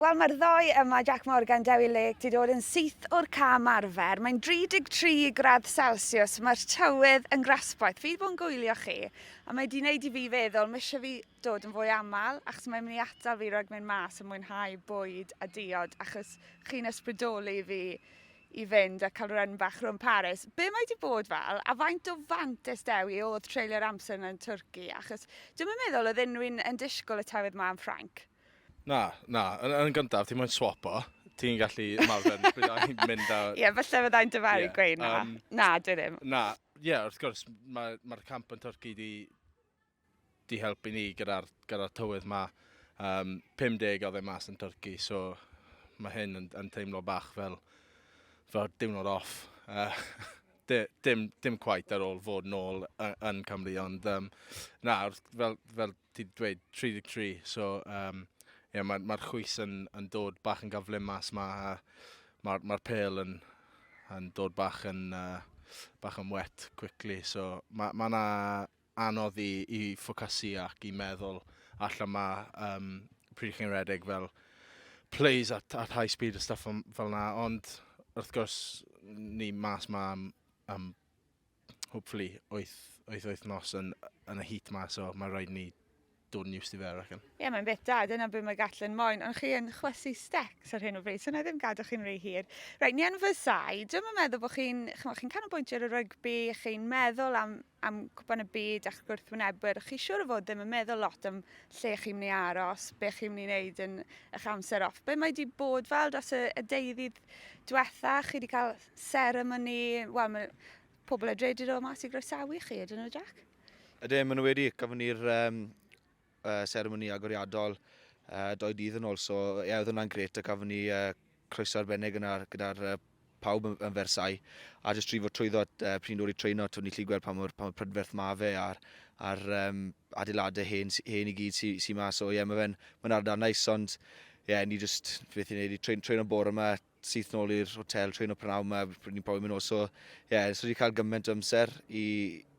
Wel mae'r ddou yma, Jac Morgan, Dewi Lake, 'di dod yn syth o'r cam arfer. Mae'n 33 gradd celsiws, mae'r tywydd yn grasboeth. Fi 'di bod yn gwylio chi a mae 'di neud i fi feddwl mishe fi dod yn fwy aml achos mae'n mynd i atal fi rhag mynd mas a mwynhau bwyd a diod achos chi'n ysbrydoli fi i fynd a cael run bach rhwng Paris. Be mae 'di bod fel a faint o fantes Dewi oedd treulio'r amser yna yn Twrci achos dwi'm yn meddwl oedd unrhywun yn disgwyl y tywydd 'ma yn Ffrainc. Na, na. Yn, yn gyntaf, ti'n moyn swap o. Ti'n gallu ymarfer byddai'n mynd a... Ie, yeah, falle byddai'n dyfaru yeah, gweud na. Um, na, dwi ddim. Na, ie, yeah, wrth gwrs, mae'r ma, camp yn Turci di, di helpu ni gyda'r gyda tywydd ma. Um, 50 o ddim mas yn Turci, so mae hyn yn, yn teimlo bach fel, fel diwrnod off. Uh, dim, dim quite ar ôl fod nôl yn Cymru, ond um, na, fel, fel ti dweud 33, so um, yeah, mae'r ma chwys yn, yn dod bach yn gaflumas, mae'r ma, ma pel yn, yn dod bach yn, uh, bach yn wet quickly, so mae ma yna anodd i, i ffocasu ac i meddwl allan mae um, pryd chi'n redeg fel plays at, at high speed a stuff fel yna, ond wrth gwrs ni mas mae am, am hopefully wyth, wyth wythnos yn, yn y heat ma, so mae rhaid ni dod yn used i fe, I reckon. Ie, yeah, mae'n bit da, dyna beth mae Gatlin moyn, ond chi yn chwysu stecs ar hyn o bryd, so na ddim gadw chi'n rhy hir. Rhaid, ni yn fy sai, dwi'n yn meddwl bod chi'n, chymod, chi'n canolbwyntio ar y rygbi, chi'n meddwl am, am cwpan y byd a'ch gwrthwynebwyr, chi siwr o fod ddim yn meddwl lot am lle chi'n mynd i aros, be chi'n mynd i wneud yn eich amser off. Be mae wedi bod fel dros y, y deuddydd diwetha, chi wedi cael Seremoni, wel mae pobl a dredyd o mas i groesawu chi, ydyn nhw Jack? Ydyn, maen nhw wedi, gafon ni'r um, uh, seremoni agoriadol uh, doi dydd yn ôl, so ie, yeah, oedd hwnna'n gret, a gafon ni uh, croeso arbennig yna gyda uh, pawb yn, yn fersau, a jyst trifo trwyddo uh, pryn dod i treino, twyd ni lli gweld pa mor, pa mor prydferth ma fe a'r, ar um, adeiladau hen, hen i gyd sy'n sy ma, so ie, yeah, mae fe'n ma ardal nice, ond ie, yeah, ni jyst, beth i'n neud, i trein, trein o'n bore yma, syth nôl i'r hotel trwy nhw prynhawn yma, pryd ni'n profi mynd nôl. So, ie, yeah, so wedi cael gymaint o amser i,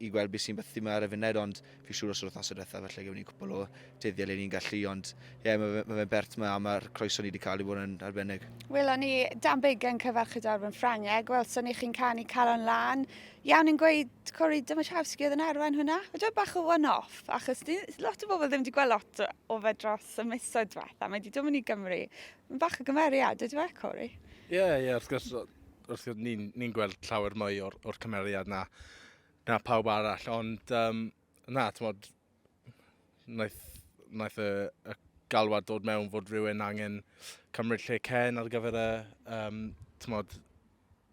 i gweld beth sy'n bythu yma ar y funud, ond fi siŵr os yr wythnosau diwetha, felly gymryd ni cwpl o dyddiau le ni'n gallu, ond ie, yeah, mae ma fe'n bert yma, a mae'r croeso ni wedi cael ei fod yn arbennig. Welon ni Dan Big yn cyfarchu darfod yn Ffrangeg, welson ni chi'n canu calon lan. Iawn yn gweud Cori Dymashawski oedd yn arwain hwnna, a dweud bach o one-off, achos ni, lot o bobl ddim wedi gweld lot o fe dros y misoedd diwetha, mae wedi dod mynd i Gymru Mae'n bach o gymeriad, ydyw e, Corey? Ie, yeah, ie, yeah, wrth gwrs, wrth gwrs ni'n ni gweld llawer mwy o'r, or cymeriad na, na pawb arall, ond um, na, ti'n modd, wnaeth, wnaeth y, y galwad dod mewn fod rhywun angen cymryd lle Ken ar gyfer y, um, ti'n modd,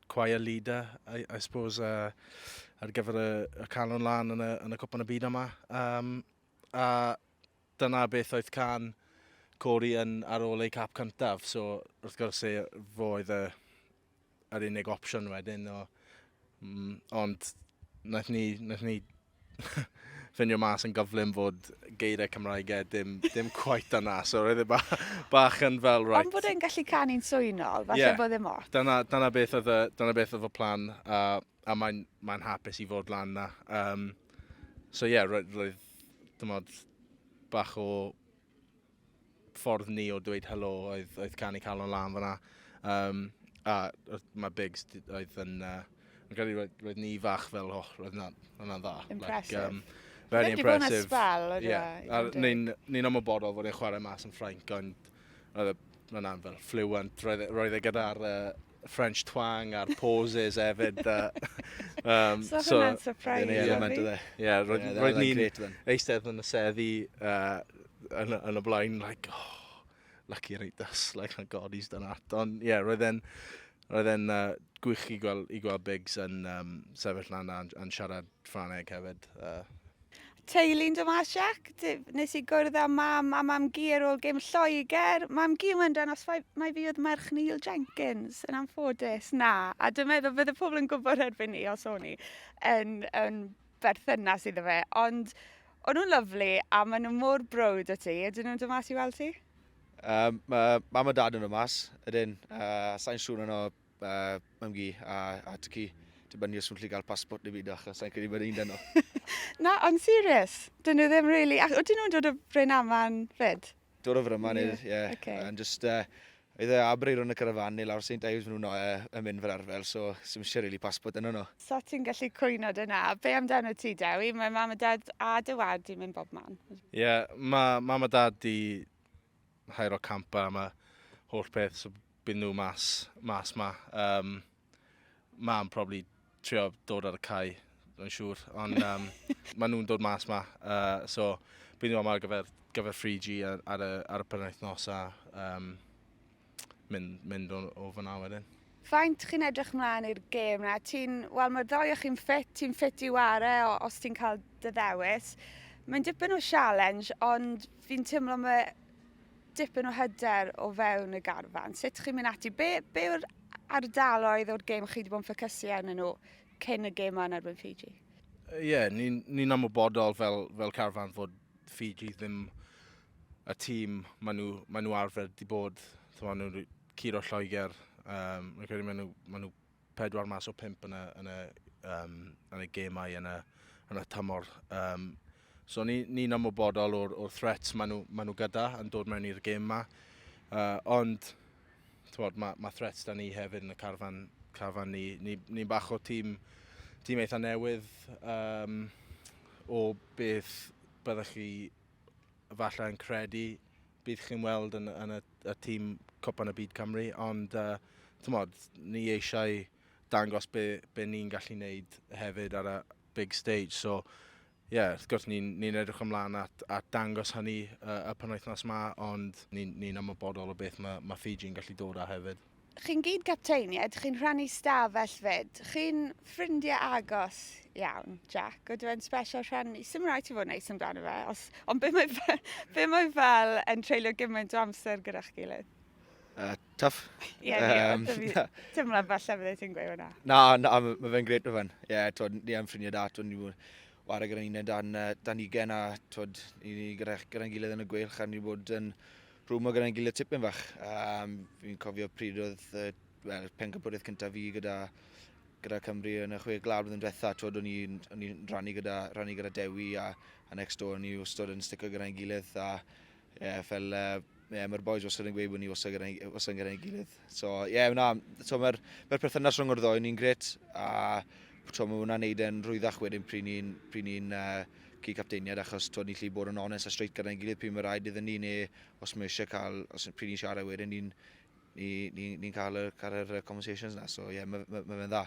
choir leader, I, I suppose, uh, ar gyfer y, y canol lan yn y, yn y cwpan y byd yma. Um, a Dyna beth oedd can Cory yn ar ôl ei cap cyntaf, so wrth gwrs e, fo oedd y, yr unig opsiwn wedyn. O, mm, ond naeth ni, naeth ni ffindio mas yn gyflym fod geiriau Cymraegau dim, dim quite yna, so roedd e ba, bach yn fel right. Ond bod e'n gallu canu'n swynol, falle yeah. bod e'n mot. Dyna, dyna, beth oedd y, dyna beth oedd y plan, a, a mae'n mae hapus i fod lan na. Um, so ie, yeah, roedd, roedd, dymod, bach o ffordd ni o dweud helo oedd, oedd canu calon lan fyna. Um, a mae Biggs oedd yn... Uh, yn credu roedd, roedd ni fach fel, oh, roedd yna'n yna dda. Impressive. Like, um, very impressive. Spell, yeah. yeah. Ni'n ni ymwybodol fod e'n chwarae mas yn Ffrainc, ond roedd yna'n fel fluent. Roedd, e, roedd e gyda'r uh, French twang a'r pauses hefyd. um, so, so hwnna'n surprise. Ie, yeah, mae'n dweud. Ie, roedd ni'n eistedd yn y seddi uh, yn, yn y blaen, like, oh, lucky reit das, like, thank God he's done that. Ond, ie, yeah, roedd e'n, roedd e'n uh, gwych i gweld, i gweld Biggs yn um, sefyll lan a'n, an siarad Ffraneg hefyd. Uh, Teulu'n dod mas Jac, nes i gwrdd â mam a mam gi ar ôl gêm Lloegr. Mam gi mae'n dan os mai fi oedd merch Neil Jenkins, yn anffodus, na. A dwi'n meddwl bydde pobl yn gwybod erbyn ni os o'n i yn, yn berthynas iddo fe. Ond o'n nhw'n lyflu a maen nhw mor brwd o ti. Ydyn nhw'n dod mas i weld ti? Um, mae mam a dad yn dod mas, ydyn. Uh, Sa'n siŵr yno uh, mam gi a, a ty ci. Dibynnu os nhw'n lli gael passport neu byd achos sa'n credu bod un dynol. Na, ond serious. Dyn nhw ddim really... Ac oedden nhw'n dod o Bryn Aman fyd? Dod o Fryman, ie. Yeah. Yeah. Okay. And just, uh, Eitha abri rhwng y carafan neu lawr St Ives maen nhw'n uh, yn mynd fel arfer, so sy'n eisiau really passport yno nhw. So ti'n gallu cwyno dyna. Be amdano ti, Dewi? Mae mam a dad a dy wad i'n mynd bob man. Ie, yeah, mae mam a dad di haero campa am y holl peth, so byd nhw mas, mas ma. Um, mam probably trio dod ar y cae, yn siŵr, ond um, maen nhw'n dod mas ma, uh, so byd nhw am ar gyfer, gyfer 3G ar, ar, y, ar y penwythnos a um, mynd, mynd o, o fyna wedyn. Faint chi'n edrych mlaen i'r gêm na? Ti'n, wel mae'r ddoi o chi'n ffit, ti'n ffit i ware os ti'n cael dy ddewis. Mae'n dipyn o sialens, ond fi'n teimlo mae dipyn o hyder o fewn y garfan. Sut chi'n mynd ati? Be, be yw'r ardaloedd o'r gêm chi wedi bod yn ffocysu arnyn nhw cyn y gêm yn erbyn Fiji? Ie, yeah, ni'n ni, ni amlbodol fel, fel carfan fod Fiji ddim y tîm, maen nhw, maen nhw arfer di bod, maen nhw curo Lloegr, um, rwy'n credu maen nhw, maen nhw pedwar mas o pimp yn y, yn y, um, yn y gemau yn y, yn y tymor. Um, so ni'n ni, ni ymwybodol o'r, or threats maen nhw, maen nhw gyda yn dod mewn i'r gem yma. Uh, ond bod, mae, ma threats da ni hefyd yn y carfan, carfan ni. Ni'n ni, ni bach o tîm, tîm eitha newydd um, o beth byddwch chi falle yn credu bydd chi'n weld yn, yn y, y tîm Cwpan y Byd Cymru, ond uh, tymod, ni eisiau dangos be, be ni'n gallu wneud hefyd ar y big stage. So, ie, yeah, wrth gwrs ni'n ni, edrych ymlaen at, at dangos hynny uh, y penwythnos yma, ond ni'n ni, ni ymwybodol o beth mae, mae Fiji'n gallu dod â hefyd. chi'n gyd capteinied, chi'n rhannu stafell fyd, chi'n ffrindiau agos iawn, Jack, oedd e'n special rhannu, sy'n rhaid ti fod yn neis amdano fe, os, ond be mae, fe, be mae fel yn treulio gymaint o amser gyda chi gilydd? Uh, tough. Ie, yeah, um, teimlo falle fydde ti'n gweud hwnna. Na, na, mae fe'n gret o fan. Ie, yeah, twyd, ni am ffrindiau da, twyd, ni bod wario gyda'n un dan, dan ugen a twyd, ni gyda'n gyda gilydd yn y gweilch a ni bod yn Rhwymog gyda'n gilydd tipyn fach. Um, fi'n cofio pryd oedd uh, well, pencampwriaeth cyntaf fi gyda, gyda Cymru yn y chwe glawr blwyddyn diwetha. Twod, o'n i'n i rannu gyda, rannu gyda Dewi a, a next door o'n i wastod yn stico gyda'n gilydd. A, yeah, fel, uh, yeah, mae'r boys wastad yn gweud bod ni wastad gyda'n gyda gilydd. So, ie, yeah, na, so mae'r mae perthynas rhwng o'r ddoi ni'n gret, a so, mae hwnna'n neud yn rhwyddach wedyn pryd ni'n pryd ni uh, cyd capteiniad, achos twyd, ni'n lli bod yn onest a straight gyda'n gilydd pryd mae rhaid iddyn ni, neu os mae eisiau cael, os pryd ni'n siarad wedyn, ni'n ni, ni, ni cael, yr, cael yr conversations na, so ie, yeah, mae ma, ma fe'n dda.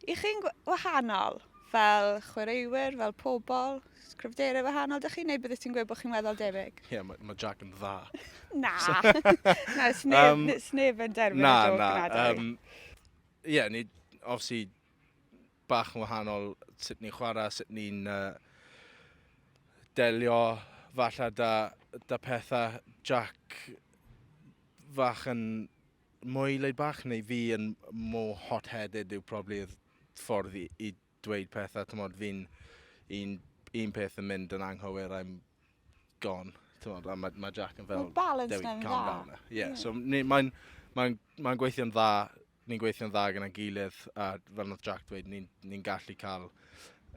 I chi'n wahanol, fel chwaraewyr, fel pobl? Sgrifdeiriau wahanol dych chi, neu bydde ti'n gweud bod chi'n weddol debyg? Ie, yeah, mae ma Jack yn dda. na, na, sneb, um, sneb yn derbyn na, y joc na, na, um, Ie, yeah, ni, obviously, bach yn wahanol sut ni'n chwarae, sut ni'n uh, delio falle da, da pethau. Jack fach yn mwy leid bach, neu fi yn mwy hot-headed yw probably y ffordd i, i dweud pethau, t'mod fi'n un un peth yn mynd yn anghywir I'm gone t'mod a ma' ma' Jack yn fel... Ma'r balance Dewi, 'na'n dda. calm down now. Ie so ni mae'n mae'n mae'n gweithio'n dda ni'n gweithio'n dda gyda'n gilydd a fel nath Jack dweud ni'n ni'n gallu ca'l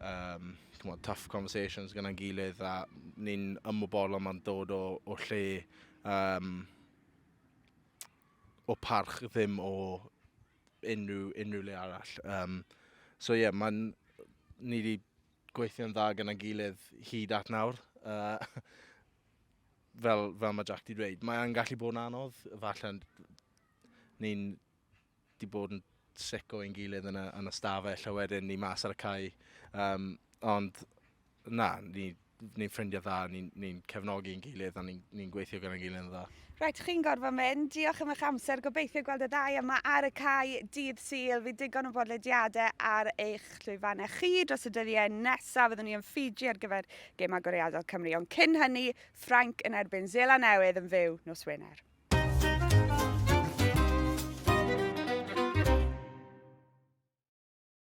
yym t'mod tough conversations gyda'n gilydd a ni'n ymwybodol ma'n dod o o lle yym o parch ddim o unrhyw, unrhyw le arall. Um, so ie, yeah, mae'n... Ni wedi gweithio'n dda gyda gilydd hyd at nawr. Uh, fel, fel mae Jack wedi dweud, mae'n gallu bod yn anodd. Falle ni'n di bod yn sic o ein gilydd yn y, yn y stafell a wedyn ni mas ar y cae. Um, ond na, ni, ni'n ffrindiau dda, ni'n ni cefnogi yn gilydd a ni'n ni gweithio gyda'n gilydd yn dda. Rhaid right, chi'n gorfod mynd. Diolch am eich amser. Gobeithio gweld y ddau yma ar y cae dydd syl. Fi digon o bodlediadau ar eich llwyfannau chi dros y dyddiau nesaf. Fyddwn ni yn Fiji ar gyfer gêm agoriadol Cymru. Ond cyn hynny, Ffrainc yn erbyn Zela Newydd yn fyw nos Wener.